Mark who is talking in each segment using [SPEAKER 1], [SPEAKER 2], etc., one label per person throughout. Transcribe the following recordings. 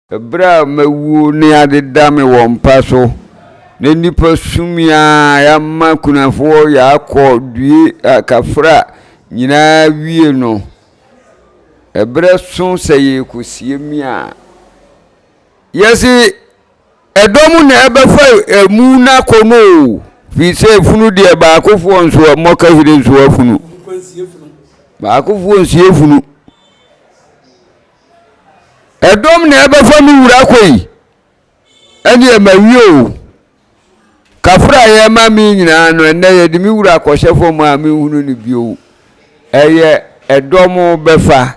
[SPEAKER 1] Bere a mawuo ne ade da me wɔ mpa so, na nnipa sumii a yɛama kunafoɔ yɛakɔ due akafra nyinaa wie no, ɛberɛ so sɛ yɛrekɔsie me a, yɛse, Ɛdɔm na ɛbɛfa emu no akɔ no o, firi sɛ funu deɛ baakofoɔ nso mmɔ kahire nso afunu. Baakofoɔ nsie funu. Ɛdɔm na ɛbɛfa me wura akɔ yi, ɛneɛ mawie o. Kafra a yɛma me nyinaa no, ɛnɛ yɛde me wura akɔhyɛ fam a menhunu no bio. Ɛyɛ ɛdɔm bɛfa.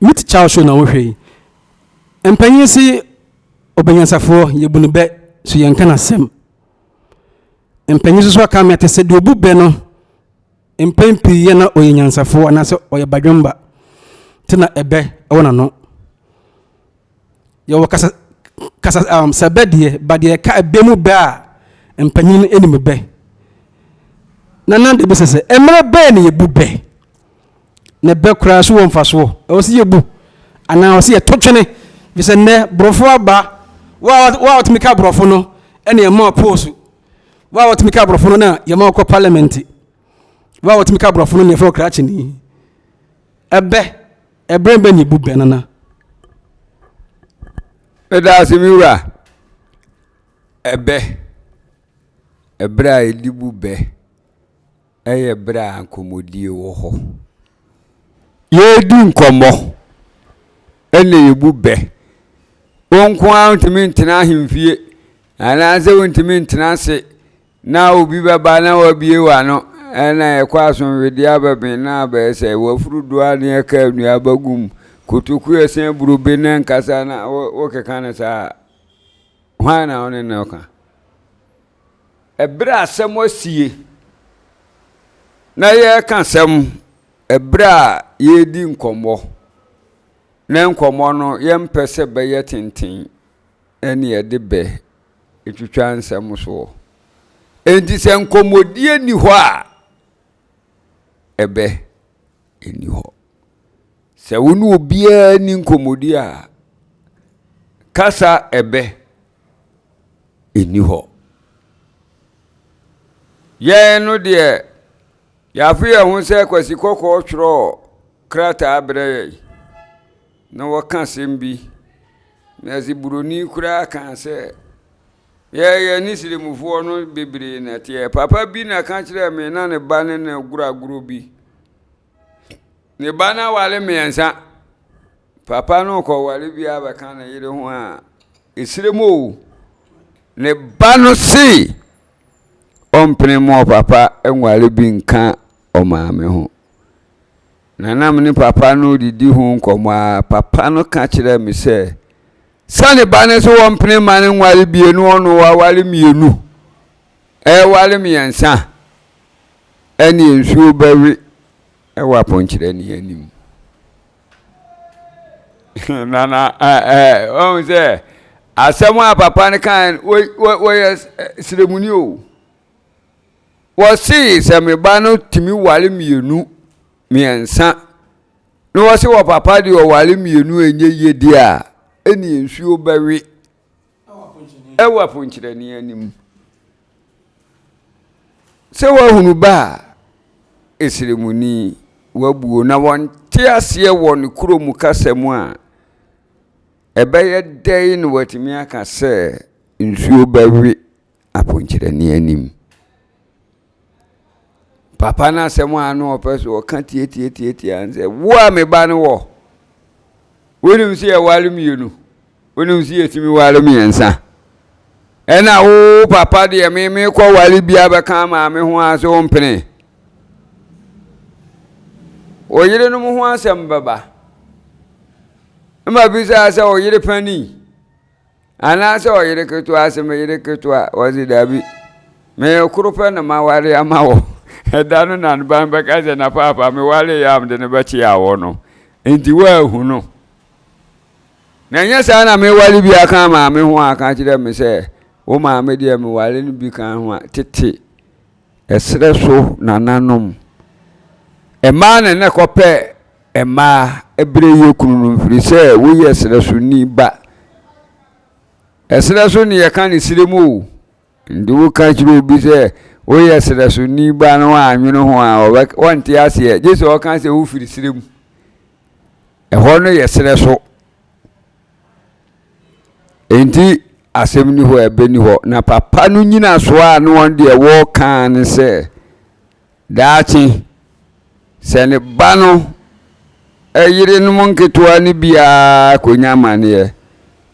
[SPEAKER 2] Me te kyaw so na wo hwɛ yi. Mpanyin se obanyansafoɔ yɛbu no bɛ so yɛnka no asɛm. Mpanyin soso aka me ate sɛ deɛ obu bɛ no mpɛn pii yɛ na ɔyɛ nyansafoɔ anaasɛ ɔyɛ badwemba te na ɛbɛ ɛwɔ n'ano. Yɛwɔ kasa kasa um, sɛ bɛ deɛ, ba deɛ ka ɛbɛ mu bɛ a, mpanyin no anim bɛ. Na nan de bisa sɛ, mmerɛ bɛɛ na yɛbu bɛ? Na bɛ koraa so wɔ mfasoɔ. Ɛwɔ sɛ yɛbu anaa ɛwɔ sɛ yɛto twene? Fi sɛ nnɛ, borɔfo aba, wo a wɔtumi ka borɔfo no, ɛne ɛma ɔpoosu. Wo a wɔtumi ka borɔfo no na yɛma ɔkɔ parliament. Wo a wɔtumi ka borɔfo no na yɛfrɛ ɔkrakyeni. Ɛbɛ. Ɛberɛ bɛn na ɛbu bɛ, Nana?
[SPEAKER 1] Meda ase, me wura. Ɛbɛ, ɛberɛ a ɛde bu bɛ, ɛyɛ ɛberɛ a nkɔmmɔdie wɔ hɔ. Yɛredi nkɔmmɔ, ɛnna yɛbu bɛ. Wo nko ara wontumi ntena ahemfie, anaasɛ wontumi ntena ase. Na obi bɛba na w'abie w'ano na ɛkɔ asomdwodeɛ aba me na abɛyɛ sɛ w'afuru do a ne ɛka nnuaba gu mu kotoku ɛsɛn abrobe na ɛnkasa na wo keka no saa hwan na wo ne no ka ɛberɛ asɛm asie na yɛreka sɛm ɛberɛ a yɛredi nkɔmmɔ na nkɔmmɔ no yɛmpɛ sɛ bɛyɛ tenten na yɛde bɛ twitwa nsɛm soɔ. Enti sɛ nkɔmmɔdie nni hɔ a, ɛbɛ nni hɔ. Sɛ wo ne obiara ni nkɔmmɔdie a, kasa ɛbɛ nni hɔ. Yɛn no deɛ, yɛafe yɛn ho sɛ Kwasi Kɔkɔɔ twerɛɔ krataa brɛ yɛn. Na wɔka asɛm bi, na se buroni koraa ka sɛ, yɛ yɛne sirimufoɔ no bebree na teɛ. Papa bi na ka kyerɛɛ me na ne ba ne no goro agorɔ bi. Ne ba no aware mmiɛnsa. Papa no kɔware bi a bɛka ne yere ho a, ɛsire mu o. Ne ba no se, ɔmpene mu ɔpapa nware bi nka ɔmaame ho. Na na me ne papa no redidi ho nkɔmmɔ ara, papa no ka kyerɛɛ me sɛ, Sɛ ne ba no sɛ ɔmpene mma no nware bio na ɔno waware mmienu, ɛreware mmiɛnsa a, ɛnneɛ nsuo bɛwe wɔ apɔnkyerɛni anim. na na ɔhu sɛ asɛm a papa no kae no, wɔyɛ sremuni o. Wɔsee sɛ me ba no tumi ware mmienu, mmiɛnsa, na wɔse wɔ papa deɛ ɔware mmienu ɛnyɛ yie deɛ a, ɛneɛ nsuo bɛwe ɛwɔ aponkyerɛni anim. Sɛ wahunu ba a, ɛsrɛmuni, wabuo na wɔnte aseɛ wɔ ne kuro mu kasa mu a, ɛbɛyɛ dɛn na watumi aka sɛ nsuo bɛwe aponkyerɛne anim. Papa no asɛm a na ɔpɛ so ɔka tiatiatiatia sɛ wo a me ba no wɔ wonim sɛ yɛware mmienu wonim sɛ yɛtumi ware mmiɛnsa ɛna wo papa deɛ me mekɔ ware bia bɛka maame ho a sɛ ɔmpene ɔyerenom ho asɛm bɛba ma bisaa sɛ ɔyere pani Anaasɛ ɔyere ketewa ase me yere ketewa ɔse daabi me koro pɛ na maware ama wɔ ɛda no na ne ban bɛka sɛ na paapa meware yɛ a mede no bɛkye awɔ no nti woahu no na ɛnyɛ saa na meware bi aka maame ho aka kyerɛ me sɛ wo maame deɛ meware no bi ka ho a tete Ɛserɛ so nananom. Mmaa na na ɛkɔpɛ mmaa berɛ yɛ kunu no mfiri sɛ woyɛ serɛ so ni ba. Ɛserɛ so ne yɛka ne serɛ mu o. Nti woka kyerɛ obi sɛ woyɛ serɛ so ni ba na wannwene ho a ɔnte aseɛ gye sɛ ɔka sɛ wofiri serɛ mu. Ɛhɔ no yɛ serɛ so. Enti asɛm ni hɔ a ɛbɛni hɔ. Na papa no nyina so a na wɔn deɛ wɔreka ne sɛ daakye sɛ ne ba no yerenom nketewa no biara kɔnya amaneɛ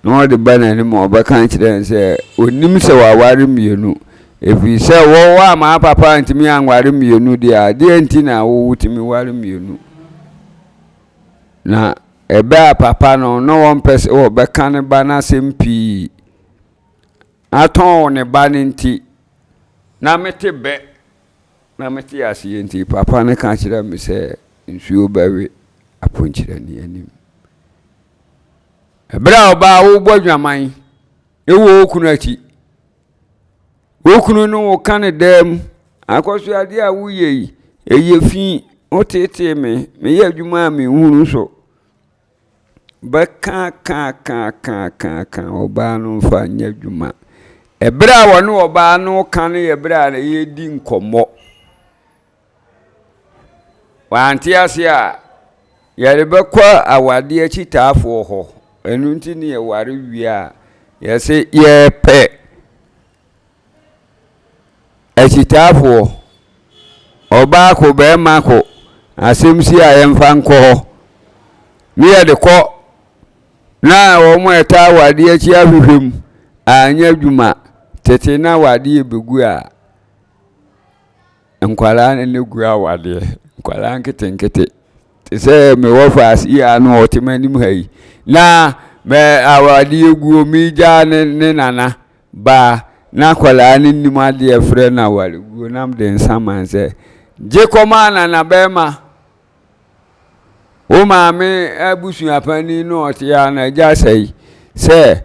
[SPEAKER 1] na ɔde ba n'anim a ɔbɛka kyerɛ no sɛ ɔnim sɛ waware mmienu ɛfiri sɛ wɔwɔ amaa papa ntumi anware mmienu deɛ adeɛ nti na wotumi ware mmienu Na ɛbɛ a papa no na ɔmpɛ sɛ ɔbɛka ne ba no asɛm pii. Atɔn ne ba no nti, na mete bɛ. Na mete aseɛ nti, papa no ka kyerɛ me sɛ nsuo bɛwe aponkyerɛni anim. Ɛberɛ a ɔbaa wobɔ dwaman wɔ okunu akyi. Wo kunu ne wo ka ne daa mu, Akɔsoadeɛ a woyɛ yi, ɛyɛ fi, woteetee me, meyɛ adwuma a menhunu so. Bɛkaakaakaakaaka ɔbaa no mfa nyɛ adwuma. Ɛberɛ a wɔne ɔbaa no ka no yɛ berɛ a yɛredi nkɔmmɔ. Wante ase a, yɛrebɛkɔ awadeɛ akyitaafoɔ hɔ. Ɛno nti ne yɛware wie a, yɛse yɛpɛ akyitaafoɔ. Ɔbaa ko, bɛrima ko, asɛm si a yɛmfa nkɔ hɔ. Ne yɛde kɔ na wɔn a ɛtaa awadeɛ akyi ahwehwɛ mu anyɛ adwuma tete na awadeɛ bɛgu a. Nkwadaa no na gu awadeɛ nkwadaa nketenkete te sɛ me wɔfaase yi a na ɔte m'anim ha yi na mɛ awadeɛ guo megya ne ne nana baa na akwadaa no nim adeɛ frɛ no awadeɛ guo nam de nsa man sɛ gye kɔma nana bɛrima Wo maame abusua panin no a ɔte a n'agya sɛe sɛ,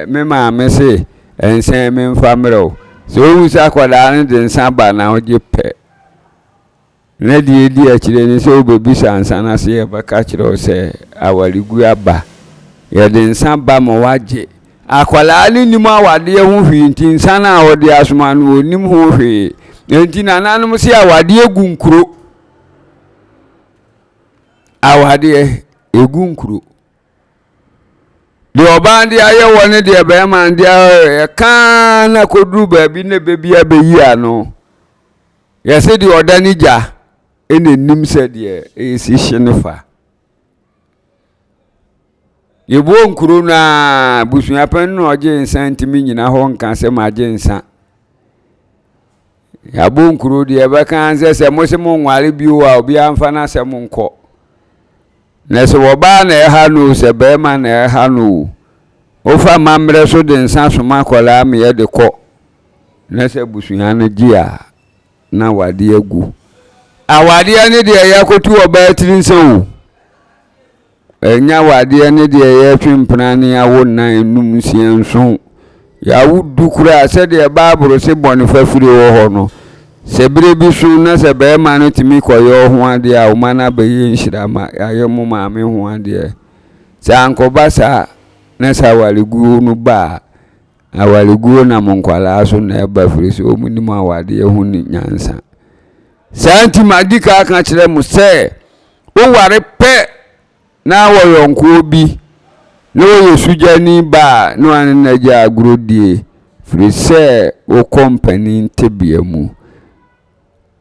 [SPEAKER 1] Me maame se nsa yi memfa mmerɛ wo. Sɛ ɔhu sɛ akwadaa no de nsa ba na ɔgye pɛ, na deɛ ɛdi akyire ne sɛ ɔbɛbisa nsa no ase, yɛbɛka akyerɛ wo sɛ awareguo aba. Yɛde nsa ba ma woagye. Akwadaa no nnim awadeɛ ho hwee nti nsa no a wɔde asoma no ɔnnim ho hwee. Nti nananom se awadeɛ gu nkuro. Awadeɛ ɛgu nkuro. Deɛ ɔbaa de ayɛ wɔ ne deɛ bɛrima de ayɛ kaa na kɔduru baabi na bɛbi abɛyi ano. Yɛse deɛ ɔda ne gya ɛna nim sɛ deɛ ɛsi hye no fa. yɛbuo nkuro no a abusua panin na ɔgye nsa ntumi nyina hɔ nka sɛ magye nsa yɛabɔ nkuro deɛ ɛbɛka sɛ sɛ mo se mo nware bio a obiara mfa no asɛm nkɔ na sɛ wɔbaa na ɛha no sɛ bɛrima na ɛha no o wofa mammerɛ so de nsa soma akwadaa meyɛ de kɔ na sɛ abusua no gye a na awadeɛ agu. Awadeɛ ne deɛ yɛakoto ɔbaa tiri nsa o. Ɛnyɛ awadeɛ ne deɛ yɛtwe mpena ne awo nnan enum nsia nson. Yɛawo du koraa sɛdeɛ Bible se bɔne fafire wɔ hɔ no. Sɛ berɛ bi so na sɛ barima no tumi kɔyɛ ɔho adeɛ a ɔma no abɛyɛ nhyira ma yɛayɛ mo maame ho adeɛ. Sɛ ankɔba saa na sɛ awareguo no ba a, Awareguo nam nkwadaa so na ɛba firi sɛ wɔn nim awadeɛ ho ni nyansa. Saa nti madi ka aka kyerɛ mo sɛ woware pɛ na wɔyɔnkoɔ bi na wɔyɛ sugyani ba a na wane no agya agorɔ die firi sɛ wo kɔ mpanin tebea mu.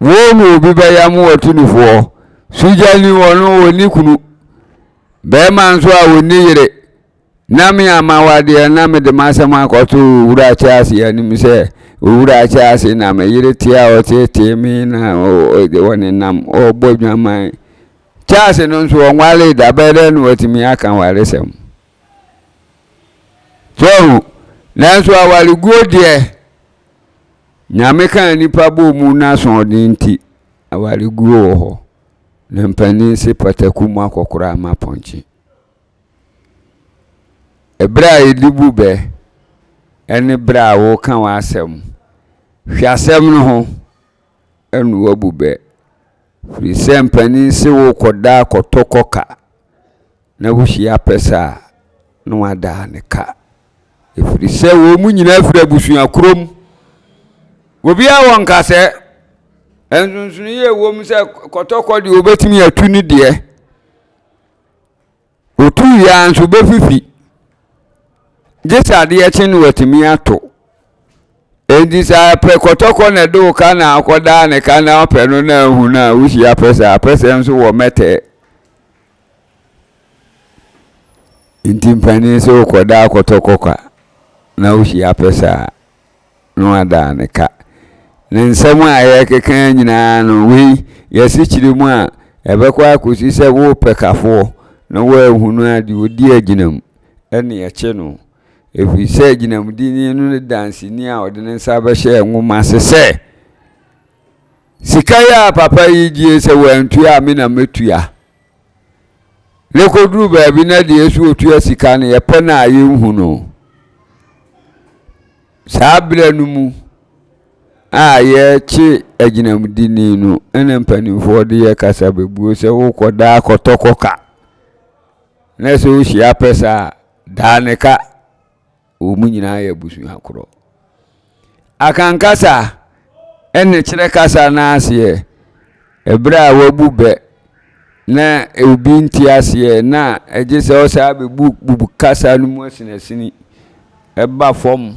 [SPEAKER 1] Wo ne obi bɛya mo wɔto ne foɔ. Sugyani wɔno wɔni kunu. Bɛɛma nso a wɔni yere. Na me ama wo adeɛ na mede m'asɛm akɔto Owura Akyɛase anim sɛ, Owura Akyɛase, na me yere te a ɔteetee me na ɔnenam ɔbɔ adwaman Kyɛase no nso, ɔnwaree da, bɛyɛ dɛn na watumi aka awaresɛm? So ahu? Nanso awareguo deɛ, Nyame kaa nnipa bɔɔ mu n'asoɔden nti, awareguo wɔ hɔ, na mpanin se pataku mu akɔkoraa ma pɔnkye. Berɛ a yɛde bu bɛ ne berɛ a woreka w'asɛm. Hwɛ asɛm no ho na woabu bɛ. Firi sɛ mpanin se worekɔda kɔtɔkɔ ka na wohyia pɛsɛ a, na wadaa ne ka. Ɛfiri sɛ wɔn mu nyinaa firi abusua korɔ mu. Obiara wɔ nkasɛ. Nsonsonoyie wɔ mu sɛ kɔtɔkɔ deɛ wɔbɛtumi atu ne deɛ. Otu wie ara nso obefifi. Gye sɛ adeɛ kye no watumi ato. Enti sɛ apɛ kɔtɔkɔ na ɛde wo ka na akɔdaa ne ka na apɛ no na ahu no a, wohyia apɛsɛ a, apɛsɛ nso wɔ mɛtɛɛ. Nti mpanin sɛ wokɔdaa kɔtɔkɔ ka na wohyia apɛsɛ a, no adaa ne ka. Ne nsɛm a yɛrekeka yi nyinaa no, wei yɛ asikyire mu a ɛbɛkɔ akɔsi sɛ worepɛ kafoɔ na woanhunu a, deɛ ɔdi agyinam ne ɛkye no. Ɛfiri sɛ agyinamdini no ne danseni a ɔde ne nsa bɛhyɛ nwoma ase sɛ, Sika yi a papa yi gyee sɛ wantua a, me na mɛtua. na ɛkɔduru baabi na deɛ ɛso ɔtua sika no yɛpɛ no a yɛnhu no saa berɛ no mu a yɛkye agyinamdini no ɛna mpanimfoɔ de yɛ kasa bɛbuo sɛ wokɔdaa kɔtɔkɔ ka na sɛ wohyia pɛ saa daa ne ka Wɔn nyinaa yɛ abusua korɔ. Akankasa ɛne kyerɛ kasa no aseɛ ɛberɛ a wabu bɛ na obi nte aseɛ na ɛgye sɛ ɔsaa bɛbu bu kasa no mu asinasini ɛba fam.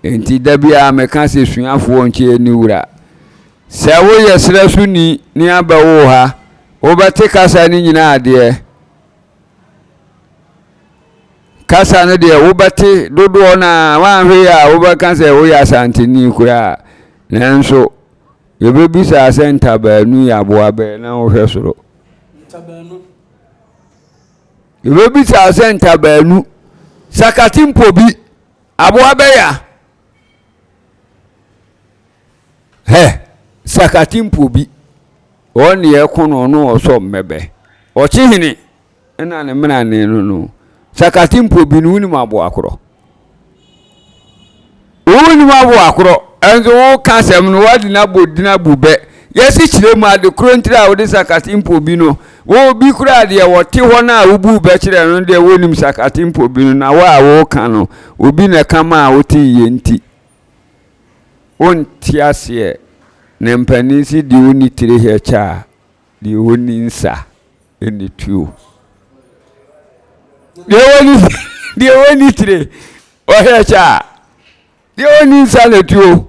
[SPEAKER 1] Enti da biara meka sɛ suafoɔ nkyɛ ani wura. Sɛ woyɛ serɛ so ni ne abɛ wo ha, wobɛte kasa no nyinaa adeɛ. Kasa no deɛ wobɛte dodoɔ no ara, woanhwɛ yie a wobɛka sɛ woyɛ Asanteni koraa. Nanso, yɛbɛbisaa sɛ ntabaanu yɛ aboa bɛn na wohwɛ soro. Ntabaanu. Yɛbɛbisaa sɛ ntabaanu. Sakate mpo bi, aboa bɛya. Hɛ, sakate mpo bi. Ɔne ɛko no ɔno ɔsɔ mmɛbɛ. Ɔkye hene. Nna ne mena ne no no sakate mpo bi no wonim aboa korɔ wonim aboa korɔ nso woka asɛm no wade no abɔ din abu bɛ yɛse kyerɛ mu ade korɔ ntira a wode sakate mpo bi no wo bi koraa deɛ wɔte hɔ no a wobu bɛ kyerɛ no deɛ wonim sakate mpo bi no na wo a woka no obi na ɛka ma a wote yɛ nti wonte aseɛ na mpanin se deɛ ɔni tire hɛ kyɛ a. Deɛ ɔnni nsa nni tuo. Deɛ ɔnni deɛ ɔnni tire ɔhwɛ kyɛ a deɛ ɔnni nsa na tuo.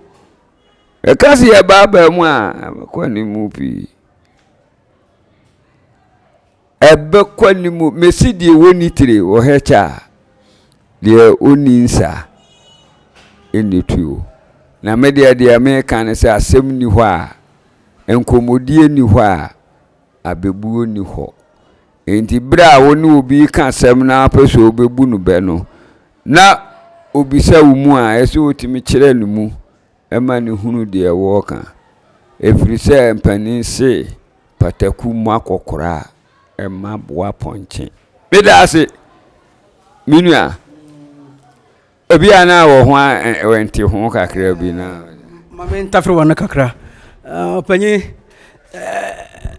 [SPEAKER 1] Ɛka se yɛ baabaa mu a ɛbɛkɔ animu pii. Ɛbɛkɔ animu mesi deɛ ɔnni tire ɔhwɛ kyɛ a deɛ ɔnni nsa nni tuo. Na me deɛ deɛ meka ne sɛ asɛm nni hɔ a nkɔmmɔdie nni hɔ a, abɛbuo nni hɔ. Enti berɛ a wo ne obi reka asɛm na wopɛ sɛ wobɛbu no bɛ no, na ɔbisa wo mu a, ɛsɛ sɛ wotumi kyerɛ ne mu ma no hunu deɛ wɔreka. Ɛfiri sɛ mpanin se, pataku mu akɔkora a, ɛmma boapɔnkye. Meda ase, me nua.
[SPEAKER 2] Ebi
[SPEAKER 1] a na wɔ ho a wɔnte ho kakra bi na. Ma me ntafere
[SPEAKER 2] wɔn no
[SPEAKER 1] kakra.
[SPEAKER 2] Ɔpanyin,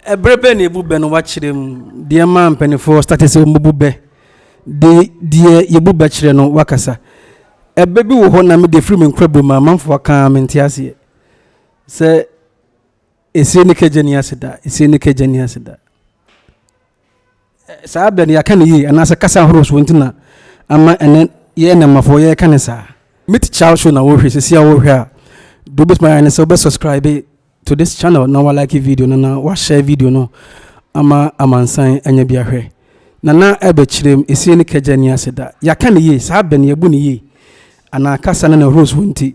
[SPEAKER 2] ɛbere bɛn na ebu bɛ no wakyerɛ mu? Deɛ maa mpanimfoɔ state sɛ wɔn bu bɛ de deɛ yɛbu bɛ kyerɛ no wakasa. Ɛbɛ bi wɔ hɔ na me deɛ firi me nkorabom a manfo akaa mente aseɛ sɛ. Esie ne kegye ne aseda, esie ne kegye ne aseda. Saa abɛ no yɛaka no yie anaasɛ kasa ahorow soɔ nti na ama ɛnɛ yɛyɛ nnɛmmafoɔ yɛreka no saa. Me teacher show na wɔhwɛ sisi a wɔhwɛ a deɛ wobɛtumi ayɛ ne sɛ wobɛ subscribe to this channel na walike video no na wahyɛ video no ama amansan anya bi ahwɛ nana ɛbɛkyerɛm esie ne kagya ni aseda yɛaka ne yie saa bɛn yɛbu ne yie anaa kasa no na rose wo nti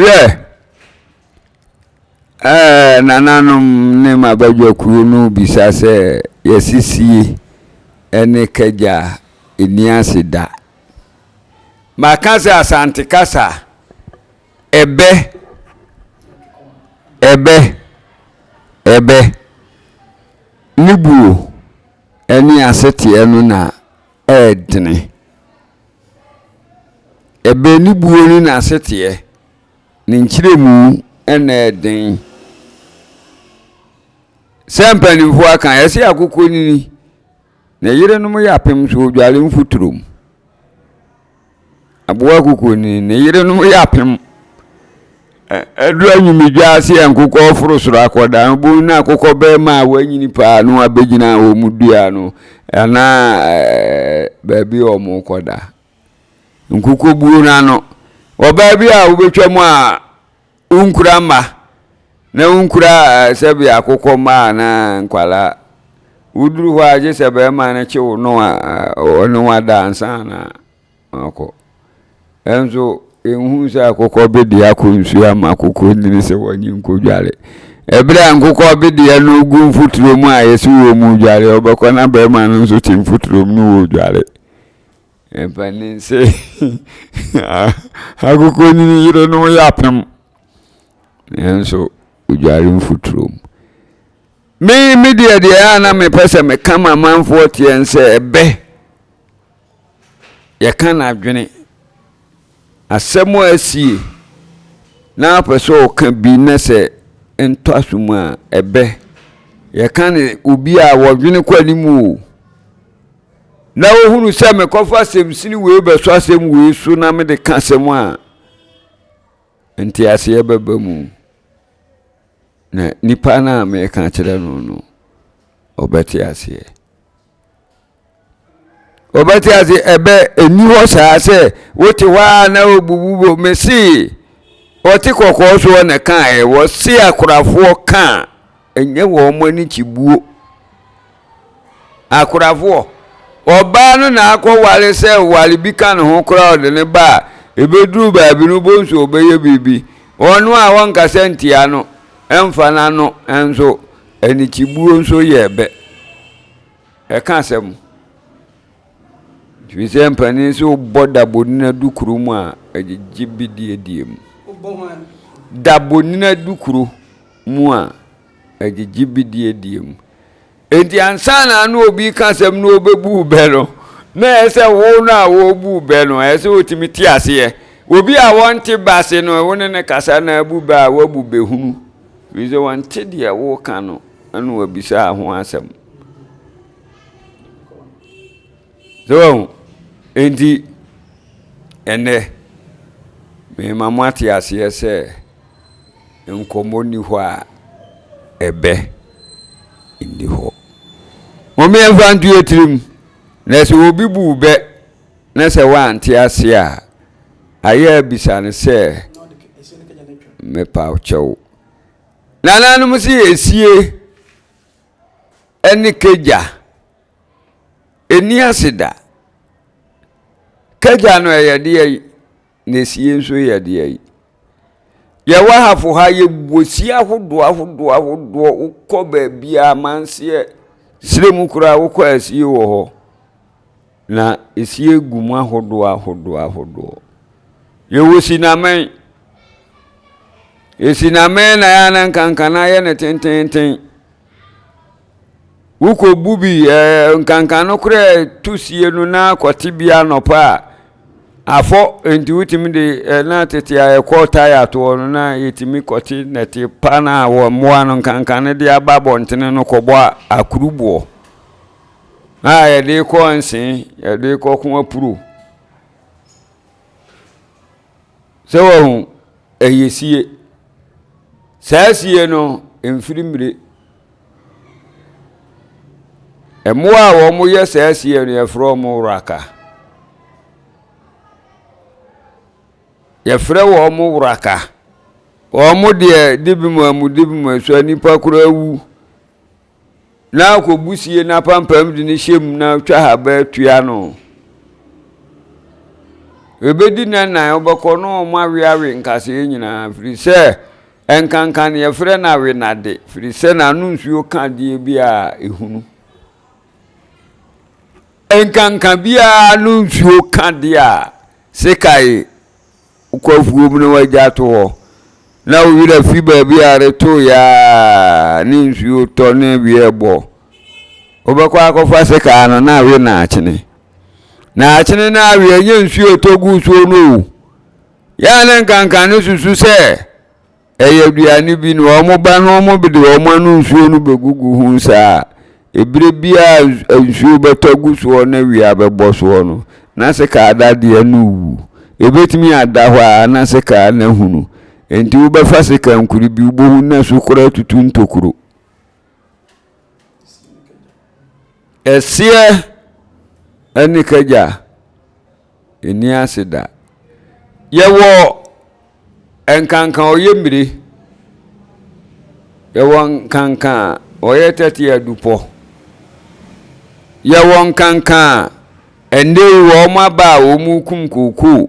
[SPEAKER 1] Hwɛ! Ɛɛ, nananom ne m'abadwakuo no rebisa sɛ yɛasisie ne kagya nni ase da. Maka sɛ Asante kasa ɛbɛ, ɛbɛ, ɛbɛ, ne buo ne aseteɛ no na ɛredene. Ɛbɛn ne buo ne n'aseteɛ, ne nkyerɛmu na ɛden. Sɛ mpanimfoɔ aka, yɛse akokɔ nini, ne yerenom yɛ apem so odware mfuturo mu. Aboa akokɔ nini, ne yerenom yɛ apem Ɛduru anwumegya ase a nkokɔ reforo soro akɔda no, bohu na akokɔ barima a wanyini paa no abɛgyina wɔn dua no anaa baabi a wɔrekɔda. Nkokɔ buo no ano. Ɔbaa bi a wobɛtwa mu a wonkura mma na wonkura sɛbi akokɔ mma anaa nkwadaa. Woduru hɔ a gye sɛ barima no kye wo no a ɔne wo ada ansa na Akɔ. Nanso yɛnhunu sɛ akokɔ bedeɛ akɔ nsuo ama akokɔ nyini sɛ wɔnye nkɔdware. Ɛberɛ a nkokɔ bedeɛ no gu mfuturo mu a yɛsi wɔ mu dware, ɔbɛkɔ na bɛrima no nso te mfuturo mu no wɔ dware. Ɛmpanin sɛ akokɔ nyini yere no yɛ apem. Nanso ɔdware mfuturo mu. Me me deɛ deɛ a na mepɛ sɛ meka ma amanfoɔ teɛ sɛ ɛbɛ yɛka n'adwene, asɛm a asie na apɛ sɛ ɔka bi na sɛ ntɔaso mu a ɛbɛ. Yɛka ne obi a wɔdwene kɔ anim o. Na ohunu sɛ mekɔfa asɛm sini wei bɛso asɛm wei so na mede ka asɛm a nteaseɛ bɛba mu. Na nipa no a meka kyerɛ no no, ɔbɛte aseɛ. wɔbɛte ase ɛbɛ ɛni hɔ saa sɛ wote hɔ a na wobubu bo mese wɔte kɔkɔɔ soɔ na kaeɛ wɔse akorafoɔ ka a ɛnyɛ wɔn ani kyibuo akorafoɔ ɔbaa no na akɔware sɛ ware bi ka ne ho koraa ɔde ne ba a ɛbɛduru baabi no bonsu ɔbɛyɛ biribi ɔno a wɔnkasa ntia no ɛmfa no ano nso anikyibuo nso yɛ ɛbɛ Ɛka asɛm. Ɛfiri sɛ mpanin sɛ wobɔ dabonina dukuro mu a ɛgyegye bidiedie mu. Dabonina dukuro mu a ɛgyegye bidiedie mu. Enti ansa na ano obi ka asɛm na ɔbɛbu bɛ no na ɛyɛ sɛ wo no a wɔbu bɛ no ɛyɛ sɛ wɔtumi te aseɛ. Obi a wɔnte bɛ ase no wo ne ne kasa na abu bɛ a wabu bɛhunu. Ɛfiri sɛ wɔnte deɛ woka no na wabisa ho asɛm. So wahu? Enti, ɛnnɛ, mema moate aseɛ sɛ nkɔmmɔ nni hɔ a ɛbɛ nni hɔ. Mome ɛmfa nto yɛ tirim na sɛ obi bu bɛ na sɛ woante aseɛ a, ayɛ abisa no sɛ mepa kyɛw. Nananom se yɛsie. ne kagya nni ase da. Kagya no yɛ deɛ yi, na esie nso yɛ deɛ yi. Yɛwɔ ahafo ha yɛwɔ sie ahodoɔ ahodoɔ ahodoɔ wokɔ baabiara amanseɛ serɛ mu koraa wokɔ asie wɔ hɔ. Na esi egu mu ahodoɔ ahodoɔ ahodoɔ. Yɛwɔ sinamɛn. Esinamɛn na yɛa na nkanka no ayɛ no tententen. Wokɔbu bi ɛɛ nkanka no koraa tu sie no na akɔte bi anɔpa a afɔ nti wotumi de ɛ na tete a yɛkɔ taya toɔ no na yɛtumi kɔte nɛte pa no a wɔ mmoa no nkanka no de aba abɔntene no kɔbɔ akuruboɔ. a yɛde kɔ nse yɛde kɔ ko apuro sɛ wɔn ɛyɛ sie saa sie no mfiri mmire mmoa a wɔn yɛ saa sie no yɛfrɛ wɔn wuraka yɛfrɛ wɔn wuraka wɔn deɛ dibi mu amu dibi mu so nipa koraa wu. na akɔbu sie no apampam de no hyɛ mu na twa haba atua no ɛbɛdi na nan wobɛkɔ no ɔmo aweawe nkaseɛ nyinaa firi sɛ ɛnkanka ne yɛfrɛ no awe nade firi sɛ n'ano nsuo ka deɛ bi a ɛhunu ɛnkanka biara no nsuo ka deɛ a sekae Wokɔ afuom na wagya ato hɔ, na wo werɛ fi baabi a retooɛ a ne nsuo tɔ ne awie ɛbɔ. Wobɛkɔ akɔfa sekaa no na awe naakyene. Naakyene na awe ɛnyɛ nsuo ɛtɔ gu soɔ no o. Yɛ a ne nkanka ne susu sɛ Ɛyɛ aduane bi na wɔn ba na wɔn bede wɔn ano nsuo no bɛgugu ho saa a, ɛberɛ biara a nsuo bɛtɔ gu soɔ na awia bɛbɔ soɔ no, na sekaa dadeɛ no rewu. Ɛbɛtumi ada hɔ ara na sekaa no ahunu. Enti wobɛfa sekaa nkuro bi, wobɛhu na so koraa atutu ntokuro. Ɛseɛ ne kagya nni ase da. Yɛwɔ nkanka a ɔyɛ mmire. Yɛwɔ nkanka a ɔyɛ tɛte adupɔ. Yɛwɔ nkanka a ɛnnɛ yi wɔaba a wɔrekum kookoo.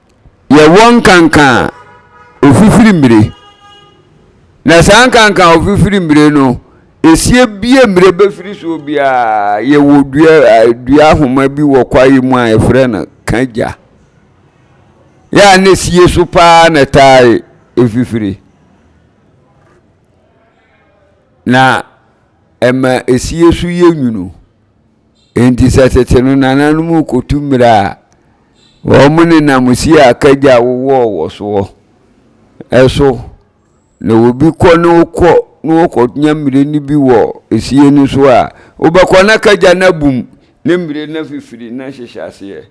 [SPEAKER 1] yɛwɔ nkanka a ofifiri mmire. Na saa nkanka a ofifiri mmire no, esie bie mmire bɛfiri soɔ biara, yɛwɔ dua, dua ahoma bi wɔ kwaeɛ mu a yɛfrɛ no kagya. Yɛ a na sie so paa na taa efifiri. Na ɛma esie so yɛ nwunu. Enti sɛ tete no nananom rekotu mmira a, wɔnenam siaka gya a wowɔɔ wɔ soɔ so na obi kɔ na ɔkɔ na ɔkɔnya mmire no bi wɔ sie no so a, wobɛkɔ na ka gya no abom ne mmire no afifiri na hyehyɛ aseɛ.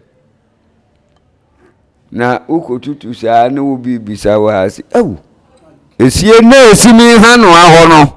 [SPEAKER 1] Na wokɔtutu saa na obi bisa wo a, sɛ, Au, esie na ɛsi me ha no ahɔ no.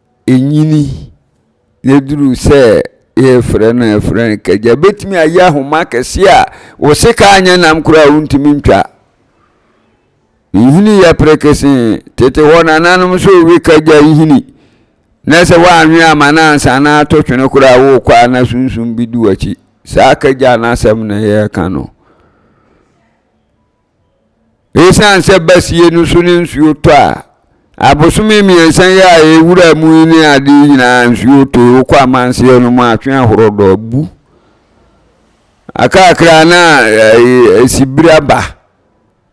[SPEAKER 1] ɛnyini na ɛduru sɛ yɛrefrɛ no a yɛfrɛ no kagya. Ɛbɛtumi ayɛ ahoma kɛseɛ a wo sekaa nyɛ nam koraa a wontumi ntwa. Nhini yɛ perekesee. Tete hɔ no ananom nso rewe kagya nhini na sɛ woanwe ama no ansa na ato twene koraa a worekɔ a na sunsum bi di w'akyi. Saa kagya no asɛm na yɛreka no. Esiane sɛ basie no so ne nsuo tɔ a, abosome mmiɛnsa yi a yɛwura mu yi ne ade yi nyinaa nsuo tɔ yi. Wokɔ amanseɛ no mu a, atwe ahorɔdɔ abu. Akakra na esibiri aba.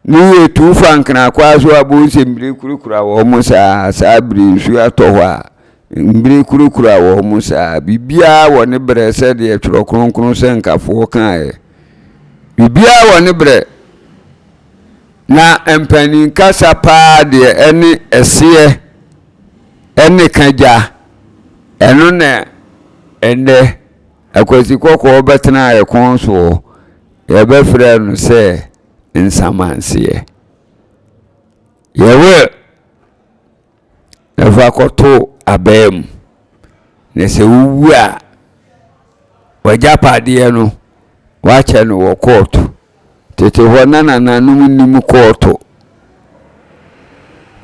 [SPEAKER 1] Ne yɛ tu fa nkenakwaa so a, bohu sɛ mbire kurakura wɔn saa. Saa bere nsuo atɔ hɔ a, mbire kurakura wɔn saa. Biribiara wɔ ne berɛ sɛdeɛ Twerɛ Kronkron sɛnkafoɔ kaeɛ. Biribiara wɔ ne berɛ. Na mpanin kasa paa deɛ ɛne ɛseɛ ɛne ka gya. Ɛno na ɛnnɛ Akwasi Kɔkɔɔ bɛtenaa ɛkɔn soɔ, yɛbɛfrɛ no sɛ Nsamanseɛ. Yɛwɔ Fa kɔto abaa mu, na sɛ wowu a, w'agyapadeɛ no, wɔakyɛ no wɔ kɔɔto. Tete hɔ na nananom nnim kɔɔto.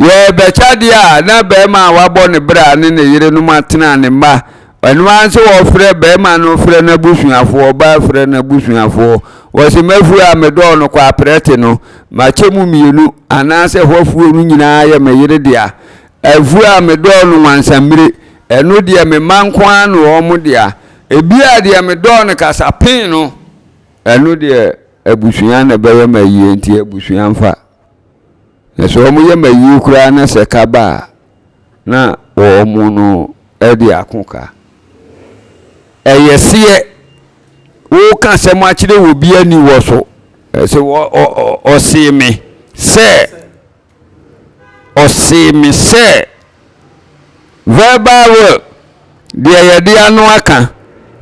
[SPEAKER 1] Yɛrebɛkyɛ adeɛ a, na barima a wabɔ ne bra ne ne yerenom atena ne mma Ɛno ara nso wɔfrɛ barima no frɛ n'abusuafoɔ, ɔbaa frɛ n'abusuafoɔ. Wɔse m'afuo a medɔɔ no kɔ aprɛte no, makyɛ mu mmienu, anaasɛ hɔ afuo no nyinaa yɛ me yere dea. Afuo a medɔɔ no Wansammire, ɛno deɛ me mma nko ara ne wɔn dea. Ebia deɛ medɔɔ no Kasapen no, ɛno deɛ abusua na ɛbɛyɛ me ayie, enti abusua mfa. Na sɛ wɔn yam ayie koraa na sɛ ka ba a, na wɔn no de ako ka. Ɛyɛ seɛ, woka asɛm akyerɛ wɔ bi ani wɔ so. Ɛsɛ ɔsee me sɛ, ɔsee me sɛ. Verbal will, deɛ yɛde ano aka.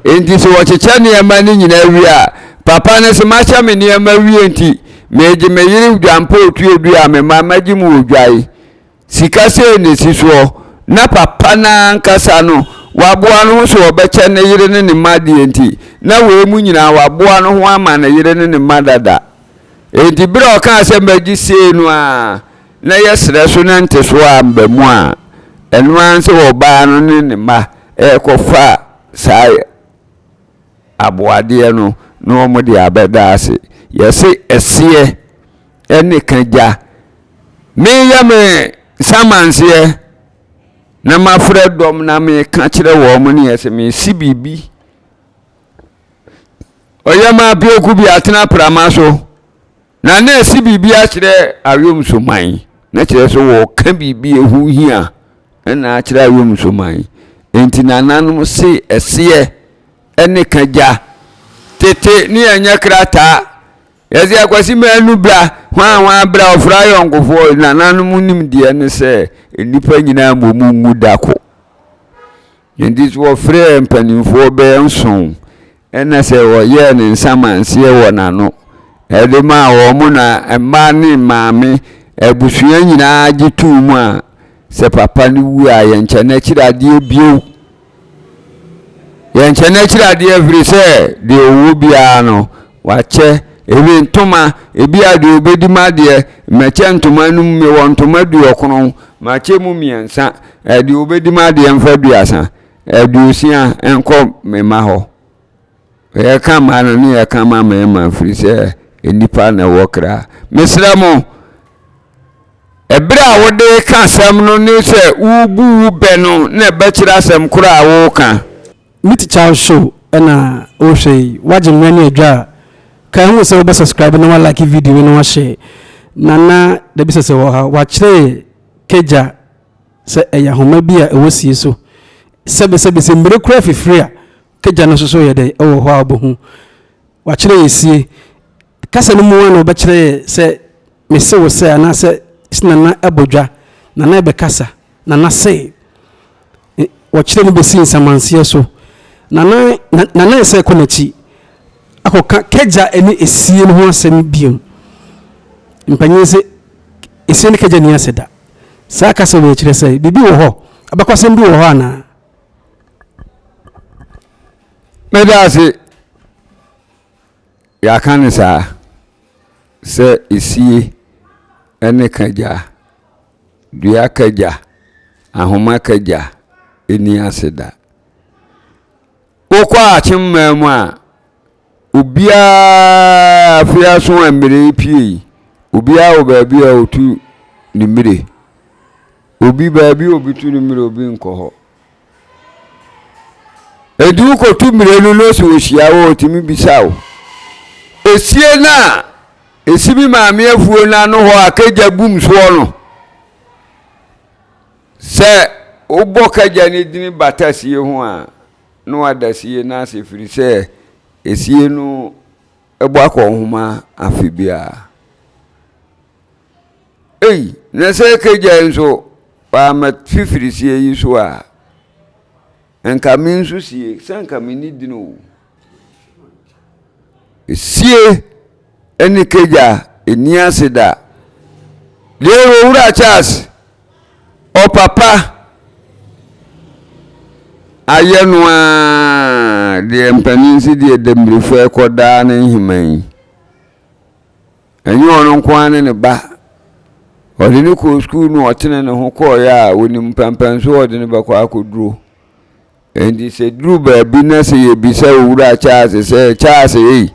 [SPEAKER 1] Enti sɛ wɔkyekyɛ nneɛma no nyinaa wie a, papa no se, Makyɛ me nneɛma wie nti, meegye me yere dwampɔɔ tuodua a me mma magye mu wɔ dwa yi. Sika sei na ɛsi soɔ. Na papa no ara ankasa no, waboa ne ho sɛ ɔbɛkyɛ ne yere ne ne mma adeɛ nti, na wei mu nyinaa waboa ne ho ama ne yere ne ne mma dada. Enti berɛ a ɔkaa sɛ magye sei no ara, na yɛsrɛ so na ntesoɔ amba mu a, ɛno ara ne sɛ ɔbaa no ne ne mma rekɔfa saa aboadeɛ no na wɔde abɛda ase. Yɛse ɛseɛ ne ka gya. Meyɛ me nsamanseɛ na mafrɛ dɔm na meka kyerɛ wɔn neɛ sɛ mesi biribi. Ɔyɛ ma apeaku bi atena prama so Na na ɛse biribi akyerɛ aweɔmsoman, na kyerɛ sɛ wɔɔka biribi a ɛho hia na akyerɛ aweɔmsoman. Enti nananom se ɛseɛ ne ka gya. Tete ne yɛnyɛ krataa, yɛse Akwasi Manu bra, hwaa hwaa bra, ɔfrɛ ayɔnkofoɔ. Nananom nimdeɛ ne sɛ nnipa nyinaa mmom nwu da ko. Enti so wɔfrɛɛ mpanimfoɔ bɛyɛ nson, ɛna sɛ wɔyɛɛ ne nsamanseɛ wɔ n'ano de maa wɔn, na mma ne maame, abusua nyinaa gye too mu a, sɛ papa no wu a, yɛnkyɛ no akyiri adeɛ bio. Yɛnkyɛ no akyiri adeɛ firi sɛ deɛ ɔwɔ biara no, wakyɛ. Ebi ntoma, ebi a deɛ ɔbɛdi m'adeɛ, mɛkyɛ ntoma no mu, mewɔ ntoma duɔkron, makyɛ mu mmiɛnsa, Deɛ ɔbɛdi m'adeɛ mfa aduasa, aduosia nkɔ me mma hɔ. Yɛka mmaa no ne yɛka ma mmarima firi sɛ nnipa na ɛwɔ kra. Mesrɛ mo, ɛberɛ a wode ka asɛm no ne sɛ wobu wo bɛ no na ɛbɛkyerɛ asɛm korɔ a woreka. Me teacher wo
[SPEAKER 2] show na wo hwɛ yi wagye mmerɛ ne adwa a kae ho sɛ wo bɛ subscribe na wa like video yi na wa share nana dabisɛsɛ wɔ ha wakyerɛ yɛ kagya Sɛ ɛyɛ ahoma bi a ɛwɔ sie so sɛbesɛbe sɛ mmire koraa fifiri a, kagya no so so yɛ dɛn? Ɛwɔ hɔ a wobɛhu. Wɔakyerɛ yɛn sie. Kasa no mu ara na wɔbɛkyerɛ yɛn sɛ mese wo sɛ anaasɛ se Nana abɔ dwa, Nana rebɛkasa, Nana se. E, wɔkyerɛ no bɛsi nsamanseɛ so. Nana, na, Nana ɛsɛ ɛkɔ n'akyi akɔka kagya ne esie no ho asɛm biom. Mpanyin se, esie ne kagya ni asɛ da. Saa kasa wei kyerɛ sɛ biribi wɔ hɔ? Abakɔsɛm bi wɔ hɔ anaa? Meda ase. Yɛaka no saa sɛ esie ne kagya, dua kagya, ahoma kagya nni ase da. Wokɔ akyem mmaa mu a, obiara afei aso a mmire pie yi obiara wɔ baabi a ɔtu ne mmire obi baabi a obi tu ne mmire obi nkɔ hɔ ɛdi wokɔtu mmire no na ɔsɛ ɔhyia wɔ ɔtumi bisa wo ɛsie no a ɛsi
[SPEAKER 1] bi maame afuo no ano hɔ a kagya gum soɔ no sɛ wobɔ kagya no dini bata sie ho a no wada sie no ase ɛfiri sɛ esie no bɔ akɔ nhoma afe biara. Ei, na sɛ Kagyae nso wamma fifiri sie yi so a, nka me nso sie, sɛ nka menni dini o. Esie! Ɛne kagya a ɛnni ase da. Dear Owura Charles, ɔpapa ayɛ no ara deɛ mpanin si deɛ dambirifo ɛkɔ daa ne nheman yi. Ɛnyɛ ɔno nko ara ne ne ba. Ɔde ne kɔɔ sukuu no ɔtene ne ho kɔɔeɛ a ɔnim pɛmpɛn so ɔde ne bɛkɔ akɔduro. Enti sɛ ɛduru baabi na sɛ yɛbisa Owura Charles sɛ, Charles ei,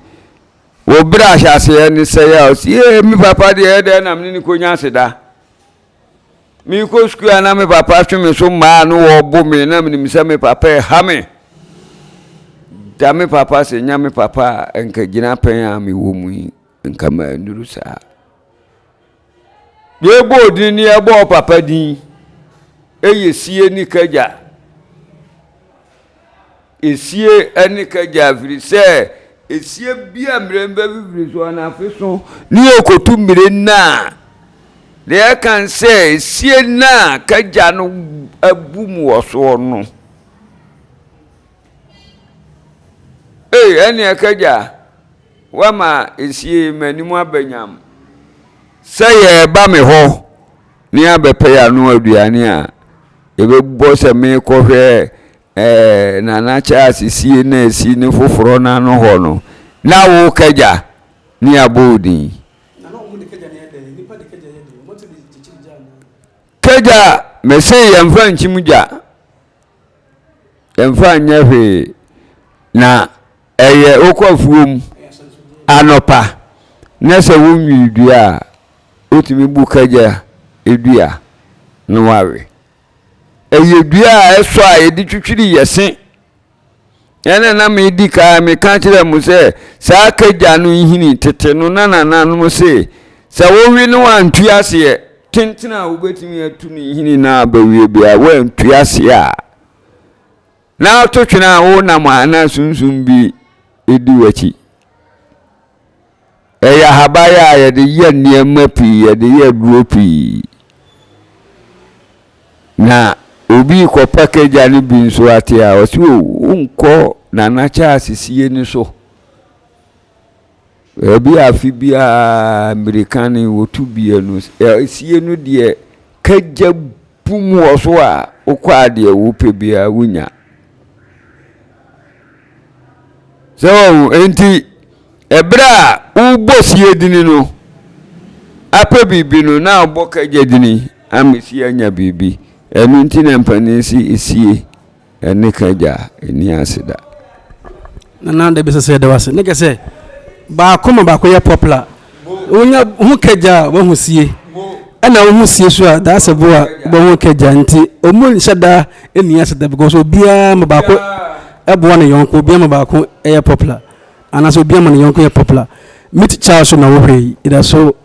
[SPEAKER 1] wo berɛ ahyɛaseɛ ne sɛe a, ɔse, Yee, me papa deɛ ɛyɛ dɛn na me ne no kɔnya aseda? Merekɔ sukuu a na me papa twe me so mmaa no wɔbo me, na menim sɛ me papa ɛha me. Da me papa ase, nyɛ me papa a, ɛnka gyinapɛn a mewɔ mu yi. Nka mannuru saa. Yɛbɔɔ din ne yɛbɔɔ papa din yɛ sie ne kagya. Esie ne kagya firi sɛ esie bi a mmerɛ mba fifiri so anafe so ne yɛkɔtu mmire nna a deɛ yɛka sɛ esie nna a kagya no abu mu wɔ soɔ no. Ei ɛneɛ kagya wama esie m'anim abɛnyam. Sɛ yɛreba me hɔ na yɛabɛpɛ yɛn ano aduane a, yɛbɛbɔ sɛ merekɔhwɛ ɛɛ Nana Charles sie na esi ne foforɔ no ano hɔ no, na wo kagya ne yɛabɔ wo din. Kagya mese yɛmfa nkyim gya. Ɛmfa nyɛ hwee na ɛyɛ wokɔ afuom anɔpa na sɛ wonwii dua a wotumi bu kagya dua na wawe. Ɛyɛ dua a ɛsɔ a yɛde twitwiri yɛse. Ɛnna na medi kan meka kyerɛɛ mo sɛ, saa kagya no nhini tete no na nananom se, sɛ wowe no a ntu aseɛ. Tenten a wobɛtumi atu no nhini no ara bɛwie bere a woantu aseɛ a na ato twene a wonam a na sunsum bi di w'akyi. Ɛyɛ ahaban a yɛde yɛ nneɛma pii, yɛde yɛ aduro pii. Na obi kɔ pakagya no bi nso ate a, ɔsi o, wonkɔ Nana Charles sie no so. Ebi afe biara mmirika no wɔtu bie no, sie no deɛ kagya bum wɔ so a wokɔ a deɛ wopɛ biara wonya sɛ wɔn enti ɛberɛ a wobɔ sie dini no apɛ biribi no na abɔ kagya dini amesi anya biribi ɛno nti na mpanin si sie Ɛne ka agya a ɛnni ase da.
[SPEAKER 2] Nana dabi sɛ sɛ yɛda wase ne kɛ sɛ baako ma baako yɛ popular wonya ho kagya a wahu sie ɛna wohu sie so a that's a boa wɔho kagya nti ɔmu nhyɛ da ɛni ase da because obiara ma baako ɛboa ne yɔnko obiara ma baako ɛyɛ popular anaasɛ obiara ma ne yɔnko yɛ popular me tikya so na wohwɛ yi ɛda so